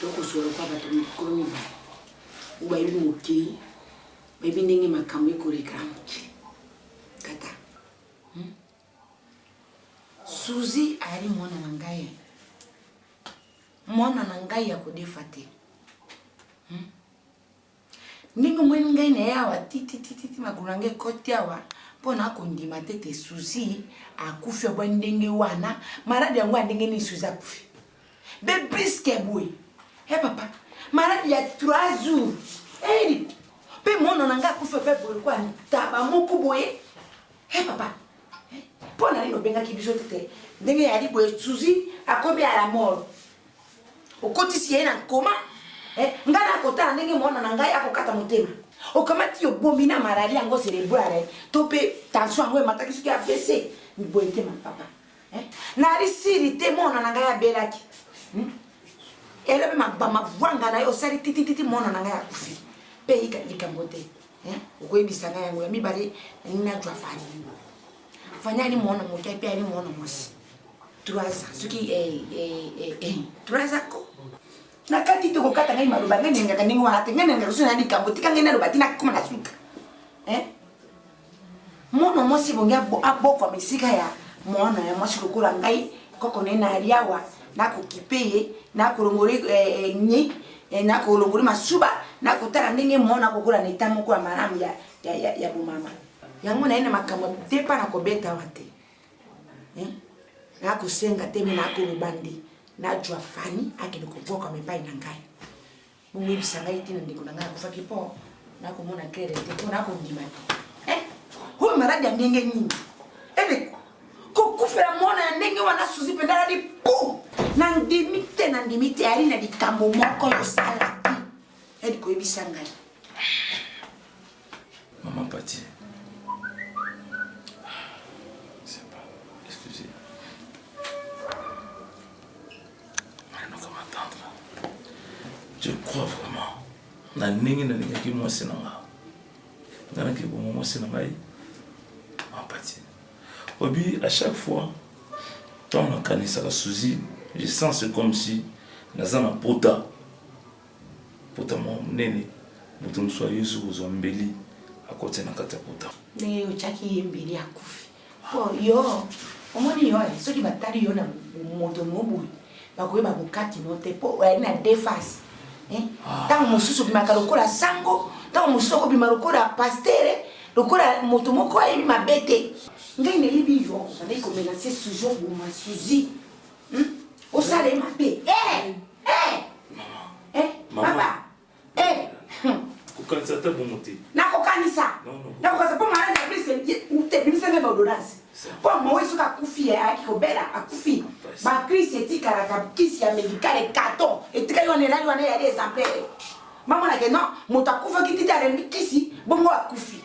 tokosolo kwa bato mikolo mibale oyo bayebi mokili bayebi ndenge makambo ekoleka na mokili tata hmm? suzi ayali mwana na ngai mwana na ngai ya kodefa te hmm? Ndenge omoni ngai na ye awa titititi makolo na ngai ekoti awa mpo na kondima te te suzi akufi abwa ndenge wana maladi yango ya ndenge nini suzi akufi be briske boye e papa maladi ya 3 jours eyeli mpe mono na ngai akufi mpe boye kwa ntaba moko boye He papa, mpo na nini obengaki biso te te ndenge ya libo esuzi akomi à la mort okotisi ye na nkoma eh, ngai nakotala ndenge mwana na ngai akokata motema okamati obomi na malali yango cerebrale to mpe tension yango emataki soki avc boye te ma papa eh, nalisili te mwana na ngai abelaki hmm? elobi mabama vwanga na ye osali titititi mwana na ngai akufi mpe yika likambo te eh, okoyebisa ngai yango ya mibale najwa fani fani ali mwana moke mpe ali mwana mwasi trois ans soki eh, eh, eh, trois ans ko nakati te kokata ngai maloba ngai nengaka ndenge wana te ngai nengaka soki na likambo tika ngai naloba te nakoma na suka Mwana mwasi ebongi abokwama esika ya mwana ya mwasi lokola ngai koko na ye na aliawa nakokipe ye nakolongoli eh, eh, ni eh, nakolongoli masuba nakotala ndenge mwana akokola na eta moko ya malamu ya, ya, ya, ya bomama yango na ye na makambo te mpa na kobeta wa te eh? nakosenga te me nakoloba nde najwa fani akende kobwakama epai na ngai boyebisa ngai ntina ndeko na ngai akufaki mpo nakomona klere te mpo nakondima te eh, oyo maladi ya ndenge nini ede eh, kokufela mwana ya ndenge wana suzi mpenza aladi po nandimi te nandimi te ali na likambo moko yosalaki ede eh, koyebisa ngai Maman Pati. C'est pas. Excusez. Maintenant comme attendre. Je crois vraiment. Na ndenge na lingaki mwasi na nga. Nga na kibongo mwasi na ngai. Maman Pati. Obi à chaque fois quand on a kanisaka Suzy, je sens c'est comme si naza na pota. Pota mwa monene, moto mosusu ayusu kozwa mbeli, akoti na kati ya pota. Ndenge otyaki ye mbeli akufi. Mpo yo, omoni yo, eh, soki batali yo na moto no boye, bakoyeba bokati no te, mpo oyali na deux face. Eh, ah. Ntango mosusu obimaka lokola sango, ntango mosusu okobima lokola pastere, lokola moto moko ayebi mabe te. Ngai nayebi yo, ngai komenase toujours boma suzi. Hmm? Osala ye mabe. Eh! Eh! Eh! Papa! Eh! kokanisa ata bongo te nakokanisa nakokanisa mpo maladi ya blise ebimisa nde baodonase mpo mawe soki akufi eh, ayaki kobela akufi bacrise etikalaka kisi ya medicale carton etikali wana elali wana eyali exemplaire mamonake non moto akufaki tite alembi kisi bongo akufi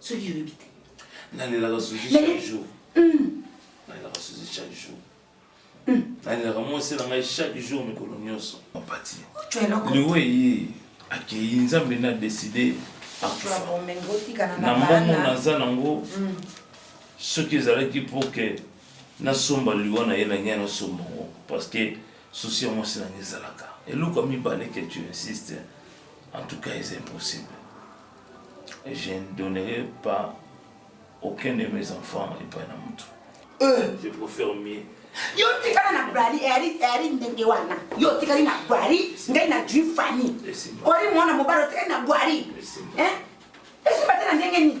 soki oyebi te nalelaka susi chaque jour hmm. nalelaka susi chaque jour hmm. nalelaka mwasi na ngai chaque jour mikolo nyonso opati liwa eye akei nzambe na deside akufa na mbongo naza nango hmm. soki ezalaki mpo ke nasomba liwa na ye na ngai nasomba yango parce que susi ya mwasi na ngai ezalaka eloko ya mibale ke tu insiste en tout cas eza impossible Je ne donnerai pas aucun de mes enfants epai na moto. Euh. Je préfère mieux yo tikala na brali eri ndenge wana yo otikali na bwari ngai na jui fani ori mwana mobali otikali na bwari esimba te na ndenge nini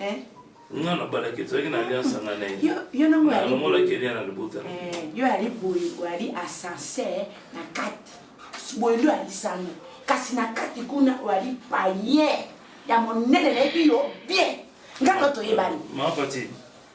eh? nga nabalaki tozalaki na alliance anga na ye nalongolaki elia na libota eh, yo yali boye oyali ascenseur na kati boye nde oyali sango kasi na kati kuna oyali paye ya monene nayebi yo bien nga nga toyebani mapati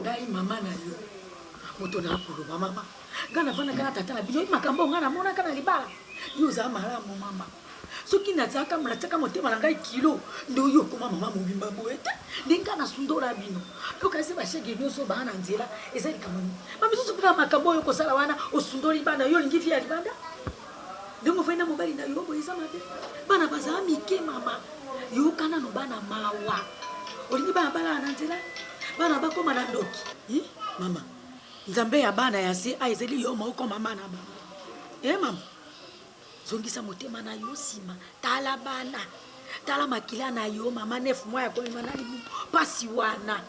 Ngai maman na yo moto na koloba maman ngai na fana kana tata na bino makambo ngai na mona kana libala yo za malamu maman soki na zaka mona tsaka motema na ngai kilo ndo yo koma maman mobimba boye te nde ngai na sundola bino yo kasi ba chèque bino so bana nzela eza likambo nini ba misusu kuna makambo oyo kosala wana osundoli bana yo lingi vie ya libanda Ndenge ofandi na mobali na yo boye eza mabe? Bana bazala mike mama yoka nanu bana mawa olingi bana balala na nzela bana bakoma na ndoki hi mama nzambe ya bana ya se a ezali yo moko mama na bango e mama zongisa motema na yo nsima tala bana tala makila na yo mama nef mwa ya koyema na libu mpasi wana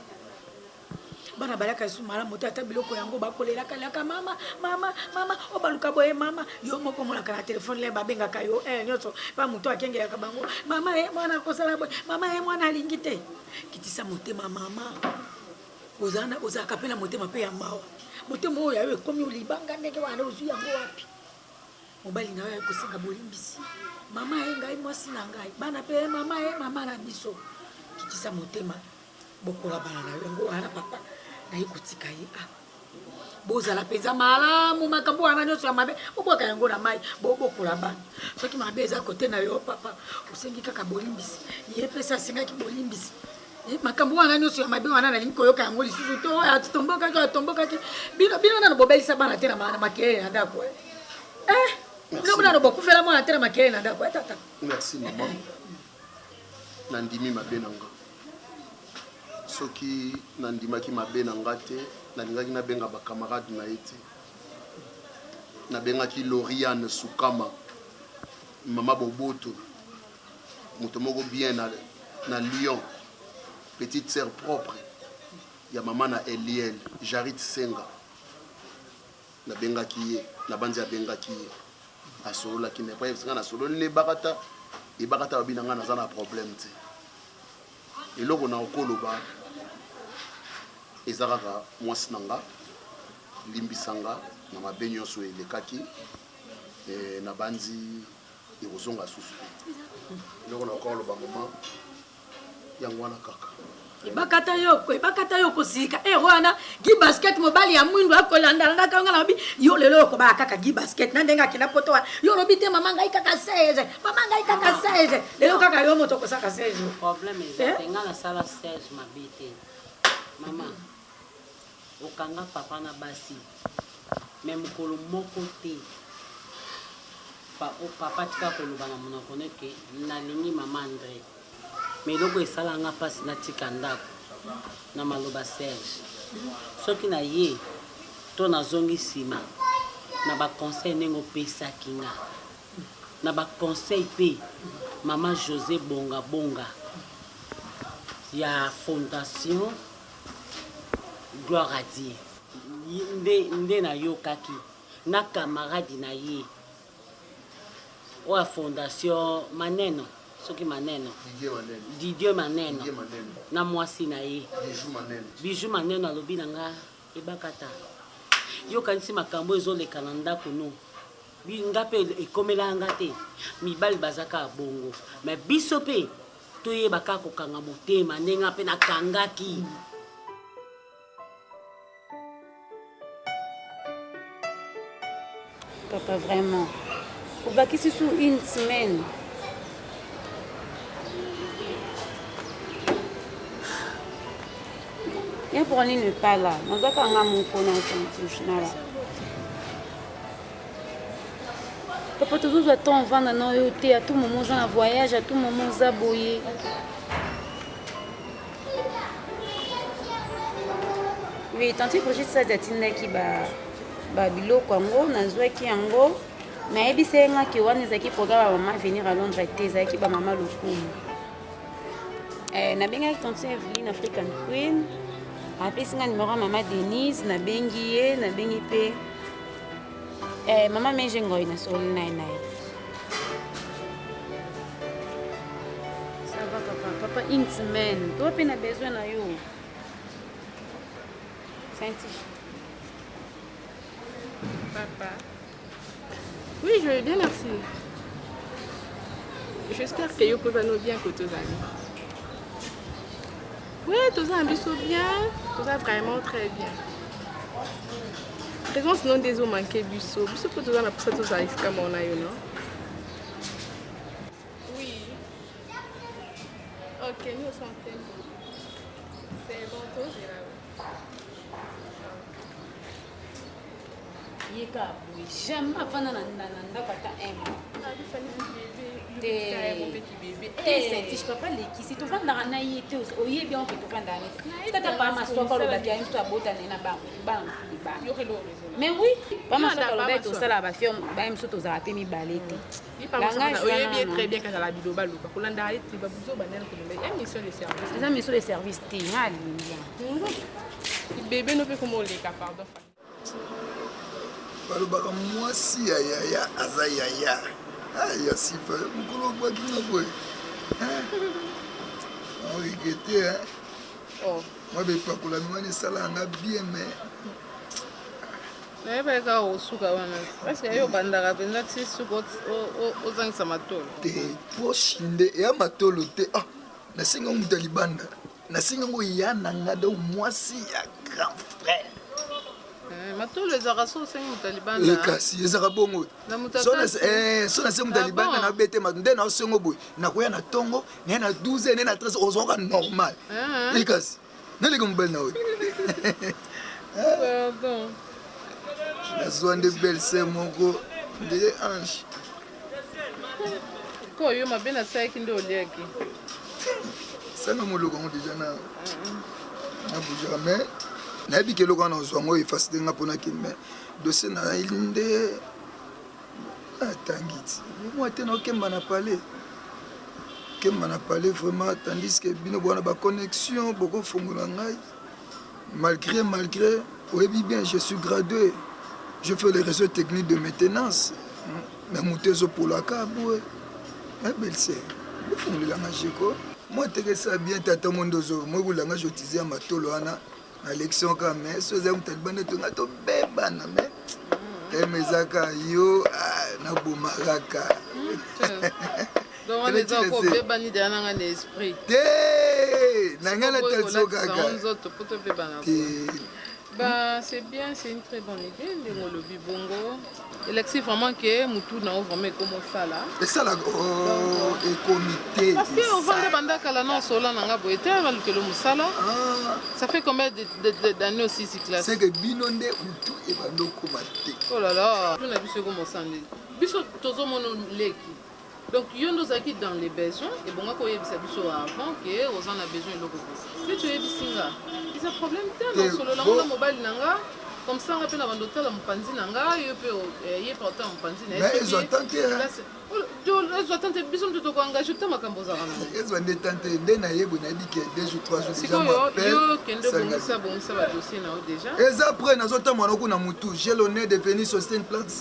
bana balaka lisusu malamu te ata biloko yango bakolelaka laka mama mama mama obaluka oh, boye mama yo moko omonaka na telefone le babengaka yo eh, nyonso mpa moto akengelaka bango mama e mwana akosala boye mama e mwana alingi te kitisa motema mama ozalaka mpe na motema mpe ya mawa motema oyo yayo ekomi olibanga ndenge wana ozwi yango wapi mobali na yo aye kosenga bolimbisi mama ye ngai mwasi na ngai bana mpe mama ye mama na biso kitisa motema bokola bana na yo yango wana papa naye kotika ye a ah. bozala mpenza malamu makambo wana nyonso ya mabe bobwaka yango na mai bobokola bana soki mabe eza kote na yo papa osengi kaka bolimbisi ye mpesa asengaki bolimbisi eh, makambo wana nyonso ya mabe wana nalingi koyoka yango lisusu to oyo atombokaki oyo atombokaki bino bino nano bobelisa bana te na makelele na ndako eh, eh bino nano bokufela mwana te na makelele na ndako etata merci maman na ndimi mabe na nga. Soki na ndimaki mabe na nga te, na lingaki na benga ba camarade na ye te. Na bengaki Loriane Sukama, mama Boboto, moto moko bien na, na Lyon, petite sœur propre ya mama na Eliel, Jarit Senga. Na bengaki ye na banzi abengaki ye asololaki na epai nga na sololi na ebakata ebakata babi na nga naza na problème te eloko na okoloba eza kaka mwasi na nga limbisa nga na mabe nyonso oyo elekaki e, na banzi ekozonga susu te eloko na okoloba mama yango wana kaka ebakata yo ebakata yo kozilika ero eh, wana gi basket mobali ya mwindu akolandana na kanga na lobi yo lelo okobaka kaka gi basket na ndenge akenda poto wana yo olobi te mama ngai kaka 16 mama ngai kaka 16 lelo kaka yo moto okosaka 16 problème eza eh? nga nasala 16 mabe te mama Okanga papa na basi mais mukolo moko te papa tika koloba na munoko no que nalingi maman Andre mais eloko esala nga pasi natika ndaku na maloba Serge soki na ye to na zongi sima na ba conseil ndenge opesaki nga na ba conseil pe maman Jose bonga bonga ya fondation Gloire à Dieu nde nde na yokaki na camarade na ye oya fondation maneno soki maneno Didier maneno na mwasi na ye Bijou maneno alobi na nga ebakata yokanisi makambo ezoleka na ndako no nga mpe ekomela nga te mibali bazaka bongo mais biso mpe Toyeba kaka kokanga motema ndenge nga mpe nakangaki. Papa vraiment obakisi su une semaine ye pour nini epala nazaka nga moko na sentinela papa tozozwa temps avanda na yo te a tout moment oza na voyage a tout moment oza boye oui tanti brigitte sadi atindaki babiloko yango nazwaki yango nayebisa ye ngaki wana ezalaki programe ya mama venir à londres te ezalaki bamama lokumu eh, nabengaki tanti eveline african queen apesi nga numero ya mama denise nabengi ye nabengi mpe Eh, mama meje ngoi na soli naye naye. Ça va papa, papa une semaine. Toi pe na besoin na yo. Senti. Papa. Oui, je vais bien, merci. J'espère que yo pe va nous bien que tous amis. Oui, toza na biso bien, toza vraiment très bien. Présence non des eaux manqué biso, biso mpe toza na posa tozala esika mona yo non Oui. Ok, nous sommes très bien. C'est bon, tozela. ye kaka boye jamais afanda na ndako ata un mois esentis papa lekisi tovandaka na ye te oyebi yango mpe tovandaka na ye tata pa masoko alobaki ya mtu abotane na bana mobali mais oui pa masoko alobaki tosalaka bafio baye mosusu tozalaka mpe mibale te eza mission de service te nalingi bebe no mpe komoleka pardon balobaka mwasi ya yaya aza yaya ah, ya sifa mokolo okwaki na boye origete eh. oh. mwa bepakolami wana esala yanga bien mais Nayebaki kaka kosuka wana. Est-ce que yo obandaka penza ti suka ozangisa matolo? Te, poche nde eya matolo te. Ah, nasengi yango moto ya libanda. Nasengi yango eya na nga donc mwasi ya grand frère. Eh, matolo ezalaka so osengi moto ya libanda eh, kasi ezalaka bongo so nasengi moto ya libanda eh, ah nabete mato nde naosengo boye nakoya na ntongo naye na 12 naye na 13 ozwaka normal ekasi naleka mobali na oyo nazwa nde belle sœur moko ndele ange ko yo mabe nasalaki nde oliaki sanga moloko yango deja na na boujaka mai nayebi ke eloko wana ozwa yango efasi te nga mpo nakende mai dossier na nde Ah, tangiti moi te naokemba na palais kemba na palais vraiment tandis que bino bwana ba connexion bokofongola ngai malgré malgré oyebi bien je suis gradué je fais les réseaux techniques de maintenance na moto ezopolaka boye na belse bofongolela nga jeko moi tekesa bien tata mondo ozo moi bolanga jotize ya matolo wana nalekisi yango kaka mais so ezali moto alibanda to ngai tobebana mais teme ezaka yo ah, nabomakaka te na ngai natalisiyo kaka te Bah, c'est bien, c'est une très bonne idée, les Molobi Bongo. Elexi vraiment que mutu na yo vraiment ekomo sala. Esala oh ekomi te. Parce que on vanda banda kala na sola na nga boye te na lukelo musala. Ah. Ça fait combien d'années aussi si classe? C'est que bino nde mutu e bando koma te. Oh là là. Tuna biso ko mosandi. Biso tozo mono leki. Donc yo nde ozalaki dans le besoin ebongaki oyebisa biso avant que oza na besoin eloko boye neti oyebisi nga eza problème te na solola ngo na mobali na nga comme ça nga pe na banda otala mopanzi na nga yo pe eh, ye pe otala mopanzi na ye ezwa tan te ezwa tan te biso moto toko engage ta makambo ozalaka na ezwa nde tan te nde nayebwe nayebi ke deux jours trois jours sikoyo yo kende obongisa bongisa badossier na yo déjà eza près nazotambola na kuna motu j'ai l'honneur de venir sur cette place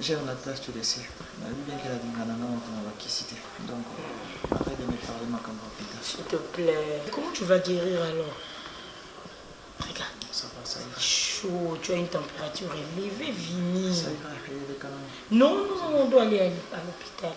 J'aime la place tu laisser nayebi bien ke na linga na nga moto na ba kisi te donc arrête de me parler makambo ya pita s'il te plaît comment tu vas guérir alors regarde ça va ça ira chaud tu as une température élevée vini ça ira eleka na non non non on doit aller à l'hôpital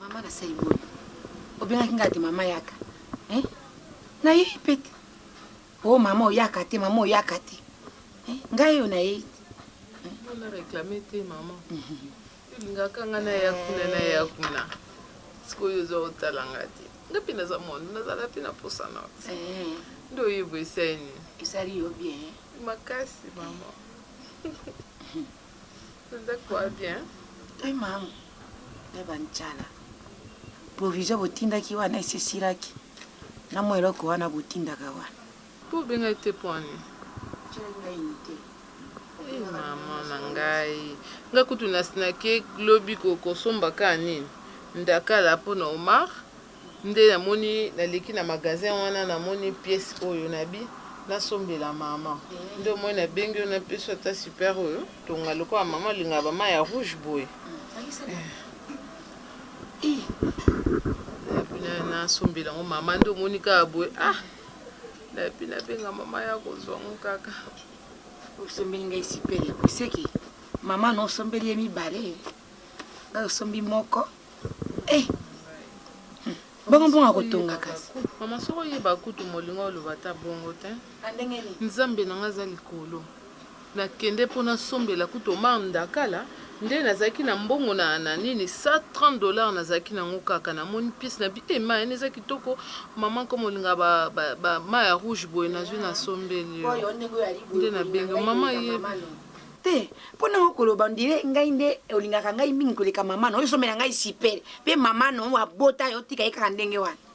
Mama na sai boye. Obengaki nga te mama yaka. Eh? Na ye pete. Oh mama oyaka te, mama oyaka te. Eh? Ngai yo na ye. Mama réclamer te mama. Mhm. Tolingaka nga na ya kuna na ya kuna sikoyo oza otala nga te nga mpe naza mondo nazala mpe na posa na te eh. nde oyeba esali nini esali yo bien eh. makasi mama oza kwa bien e mama na bancala provision botindaki wana esesilaki na mwa eloko wana botindaka wana Po obenga ye te po ani? Otyelaki ngai inite. Hee maman na ngai nga kutu na snake lobi ko kosomba ka nini ndakala po na omar nde na moni na leki na magasin wana na moni piece oyo na bi na sombela maman nde omoni na bengi yo na pesi yo ata super oyo tonga lokola maman olingaka ba mayi ya rouge boye eh, eh. na sombela ngo maman nde omoni ka boye ah nayebi na benga mama ya kozwa ngo kaka osombeli ngai sipele oseki mama na osombeli ye mibale ngai osombi moko eh. Hmm. bongo bongo akotonga kasi mama soko oyeba kutu molingo oloba ata bongo te ah, nzambe na ngai aza likolo Na kende po na sombela kutu Omar Ndakala nde na zalaki na mbongo na na nini 130 dollars na zalaki na ngo kaka na moni piece na bi eh main eza kitoko maman comme olingaka ba ba ba main ya rouge boye na zui na sombeli yo nde na bengi yo maman yebi te po na oko loba on dirait ngai nde olingaka ngai mingi koleka maman na yo sombela ngai super pe maman na yo abota yo tika ye kaka ndenge wana.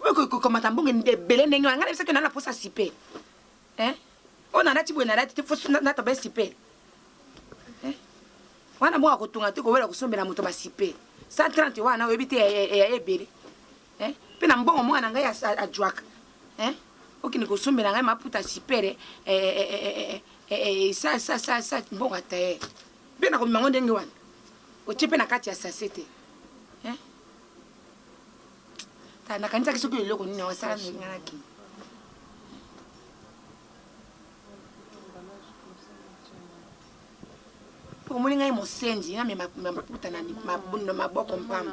okokamata mbongo ebele ndenge wana ngai nayebisaki na naposa sipe oyo nalati boye nalati te nataba sipe wana bongo akotonga te kowela kosombela moto basipe 130 wana oyebi te eya ebele mpe na mbongo mwana ngai ajwaka okende kosombela ngai maputa sipere sa mbongo ataye mpe nakomema yango ndenge wana otie mpe na kati ya sase te kala nakanisaki soki eloko nini osala ndenge nga nakei omoni ngai mosenzi namema maputa na maboko mpamba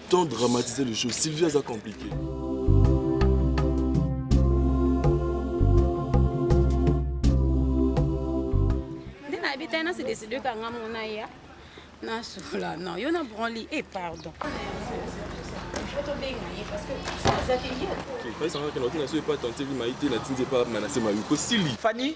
Tant dramatiser les choses. Sylvie aza compliqué. Nde na se décider ka nga mona ya. Na sola non, yo na branli et eh, pardon. fani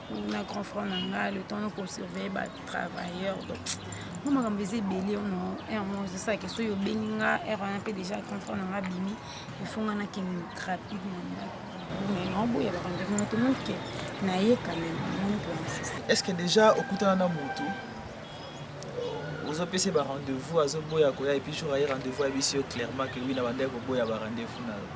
na grand frère na ngai le temps noko surveille ba travailleur donc mwa makambo eza ebele ono heure moko ezosala ke soki obengi nga heure wana mpe déjà grand frère na ngai abimi ifo nga nakende rapide na ndako mais naoboya barendez-vous na tomoni ke naye quand même amoni mpe insiste est ce que déjà okutana na motu ozopesa ye barendez-vous azoboya koya epuis jour aye rendez-vous ayebisi yo clairement ke wi na bandaki koboya barendez-vous na yo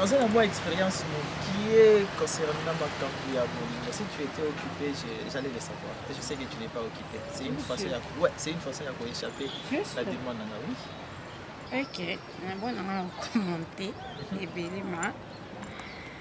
naza na mwa expérience mokie concernant makambo ya bolingo si tu étais occupé j'allais le savoir et je sais que tu n'es pas occupé c'est une façon ya ouais, c'est une façon ya koéchappe la demande nanga oui ok nabonanga okomante ebele ma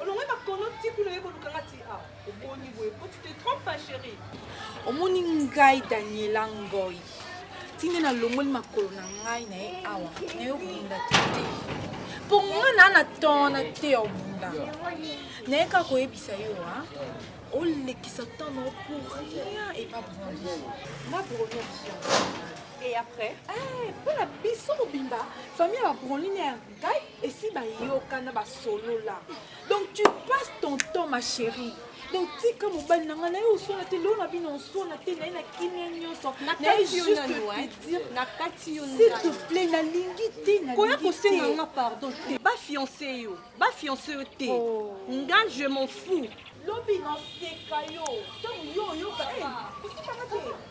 olongwe makono ti kuna oye koluka nga ti awa ah, oboni boye po tu te trompe ma chérie omoni ngai daniela ngoi ti nde nalongoli makolo na ngai na ye awa na yo obunda te mpo nga naa na temps na te ya obunda naye kaka koyebisa yo a ah, olekisa temps nao pour rien epa brandi ma broni et après mpo eh, na biso mobimba famille ya babronline Kai esi bayokana basolola donc tu passes ton temps ma chérie donc tika mobali na ngai naye oswana te lelo na bino oswana te naye na kimia nyonso naye juste te dire na kati yo s'il te plaît nalingi te koya kosenga nga pardon te bafiance yo bafiance yo te oh. nga je m'en fous lobi naseka yo ntango yo oyoka eh,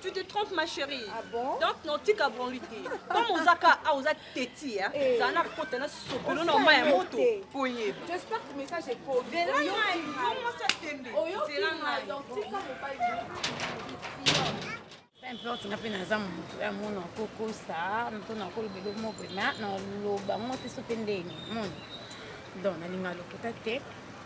Tu te trompes ma chérie. Ah bon? Donc non tika branlu te. Comme ozaka a oza teti hein. Eh. Ça n'a kota na sopelo na ma ya moto. Poye. J'espère que message est pour. De là na yo ça tembe. C'est là na donc tika mobali. Peu importe nga mpe naza moto ya mona kokosa mpo nakoloba eloko moko na naloba ngo te so mpe ndenge moni donc nalinga lokuta te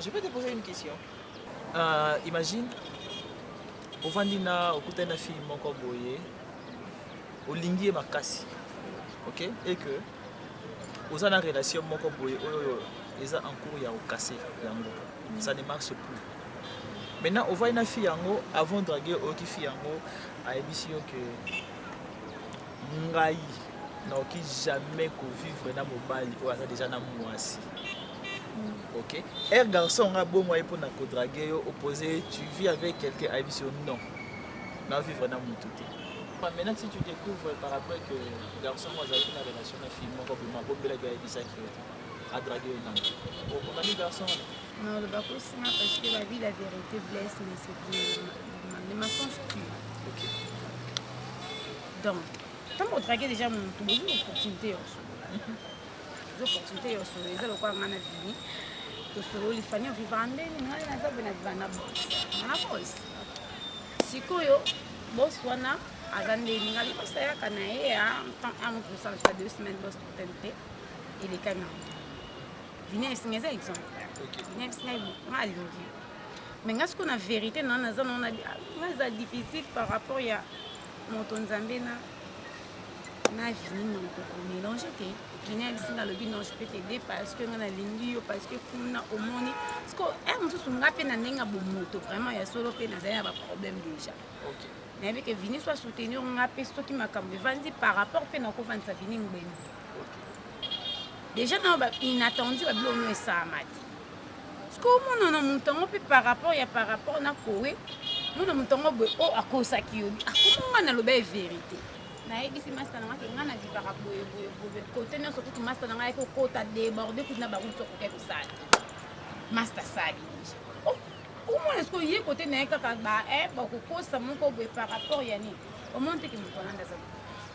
Je peux te poser une question uh, Imagine ovandi na okutani na fille moko boye olingi ye makasi ok et que oza na relation moko boye oyo eza en cours ya okase yango ça ne marche plus maintenant ovandi na fille yango avant drague oyoki fille yango ayebisi yo que ngai naoki jamais ko vivre na mobali oyo aza deja na mwasi hmm. ok er garçon nga bongo ye mpona kodrage yo opose tu vis avec quelqu'un ayebisi yo non na vivre na motu te maintenant si tu découvres par après que garçon moko azalaki na relation na fille moko boma bombelaki ayebisaki yo adrage yo nani okomami garçon wana Non, bakosi nga parce que la vie la vérité blesse mais c'est bien le mensonge tue. OK. Donc, tant qu'on traquer déjà mon tout bonjour opportunité yo solola. Zo opportunité yo solola eza lokola nga na vini. To sololi fani yo vivre en ndeni nga na zabe na vivre na boss. Na boss. Sikoyo boss wana aza ndeni nga boss ayaka na ye en temps en plus ça deux semaines boss tente. Il est quand même vini ayebisi ngai eza exemple vini ayebisi ngai nga alingi me nga siko na verité na naza nao na nga eza difficile par rapport ya moto nzambe na na vini moto komélange te vini ayebisi nga alobi non je peux t'aider parce que nga nalingi yo parce que kuna omoni siko e mosusu nga mpe na ndenge ya bomoto vraiment ya solo mpe nazali na baproblème déjà okay. nayebi ke vini so asoutenir nga mpe soki makambo evandi par rapport mpe nakovandisa vini ngbeni deja nao ba inattendu ba biloko nio esalamaki siko omona na moto yango mpe par rapport ya par rapport na kowe mona moto yango boye oyo oh, akosaki yo akoma ngai naloba ye verité nayebisi masta na ngaki ngai navivaka boye boye boye kote nyonso kutu masta na ngai ayaki kokota deborde kutu na bakutu okoki kosala masta sali deja oh, omona sikoyo ye kote na ye kaka ba eh, bakokosa moko boye par rapport ya nini omoni teke moto wana ndaza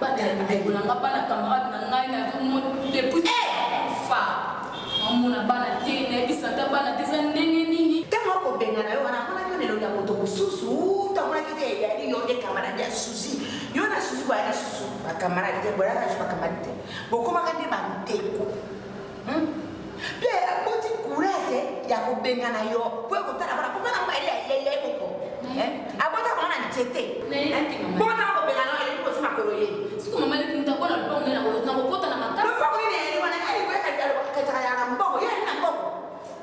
Bana ya ndeko na nga, bana camarade na ngai nazo mona depuis fa mamona bana te nayebisa ata bana te eza ndenge nini ntango akobengana yo wana amonaki yo lelo ya moto mosusu uta amonaki te eyali yo nde kamarade ya susi yo na susi boyali susu bakamarade te boyaka susu bakamarade te bokomaka nde bandeko Hmm? Mpe aboti kuraze ya kobengana yo mpo ya kotala bana mpo bana mobali ya ye moko eh? abota koma na nzete mpo na kobengana yo ayebi kozwi makolo ye siko mama leki moto akona lobongo nde nakokota na makasi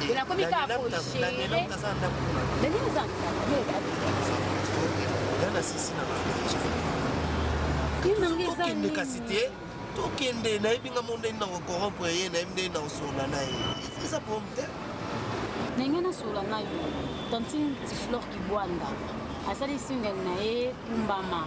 Mais la comique a approché. Daniel, on t'a entendu. Daniel, on t'a entendu. Daniel, on sisi na bango. Tokende kasi te tokende nayebi nga mo ndenge nako corrompre ye nayebi ndenge nakosola na ye eza problème te ndenge nasola nayo tantine tiflore kibwanda asali single na ye kumbama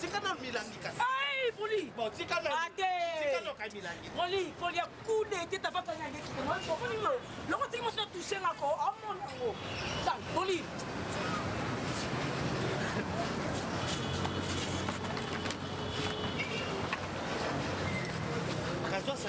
tika na milangi kasi poli tika poli poli ya kude te tafakanyagekilokotika mosi na touche ngako amona yango poli Mas nossa,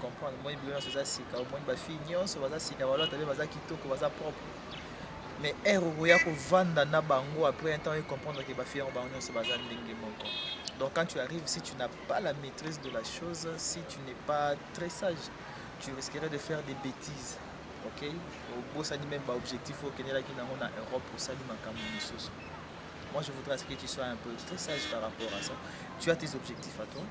comprendre moi bilona soza sika moi ba fille nyonso baza sika ba lota be baza kitoko baza propre mais erreur okoya ko vanda na bango après un temps et comprendre que ba fille bango nyonso baza ndenge moko donc quand tu arrives si tu n'as pas la maîtrise de la chose si tu n'es pas très sage tu risquerais de faire des bêtises ok obosani même ba objectif okendelaki nango na europe osali makambo mosusu moi je voudrais que tu sois un peu très sage par rapport à ça tu as tes objectifs à toi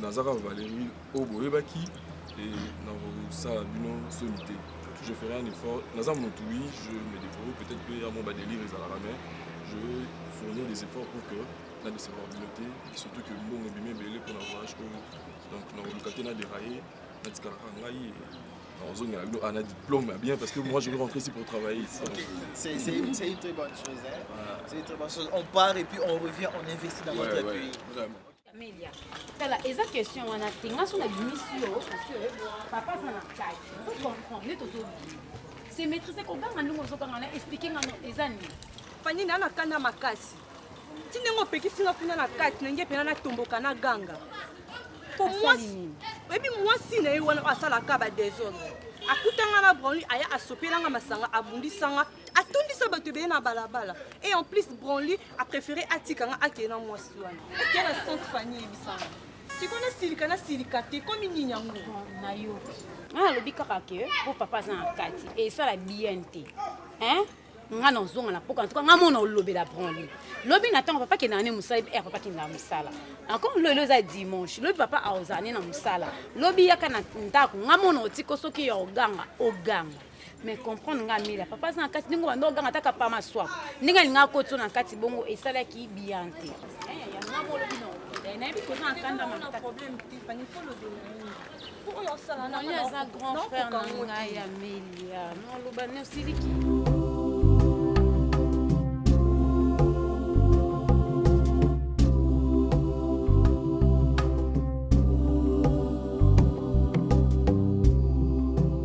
naza kaka valerie oyo boyebaki e nakosala bino soni te je ferai un effort naza motu wi je me deforo peut-être mpe ya mo badelire ezalaka mais je fournir des efforts pour que na décevoir bino te surtout que mbongo ebimi ebele mpona voyage oyo donc nakoluka te na deraye natikalaka ngai nazongela bino ana diplôme ya bien parce que moi je vais rentrer ici pour travailler ici okay. c'est une, une très bonne chose hein? ouais. c'est une très bonne chose on part et puis on revient on investit dans ouais, notre ouais. pays Vraiment. Camelia, tala eza question wana te nga so na bimisi yo parce que papa aza na cai ozo comprendre nde tozobima se maîtrise koganga ndenge ozoganga na explike nga no eza nini fani na na kanda makasi ti ndenge opekisi nga kuna na kati na nge mpena natomboka na ganga po mwasi oyebi mwasi na ye wana oyo asalaka badesordre akutanga na branli aya asopelanga masanga abundisanga atondisa bato ebele na balabala et en plus branli a préféré atika nga akende na mwasi wana eke na sens fani yebisanga sikoyo nasilika nasilika te komi nini yango na yo nga alobi kaka ke po papa aza na kati esala bien te hein nga na ozonga na poka ntuka nga mona olobela branle lobi na ntango papa kendaka ne mosala er papa kendaka mosala encore lo elo eza dimanche lobi papa aozala ne na mosala lobi yaka na ndako nga mona otiko soki ya oganga oganga mais comprendre nga mila papa aza na kati ndenge obanda oganga ata kapa maswa ndenge alingaka kotiso na kati bongo esalaki bien te nayebi koza na kanda makasi aza grand frère na ngai ya melia noloba nosiliki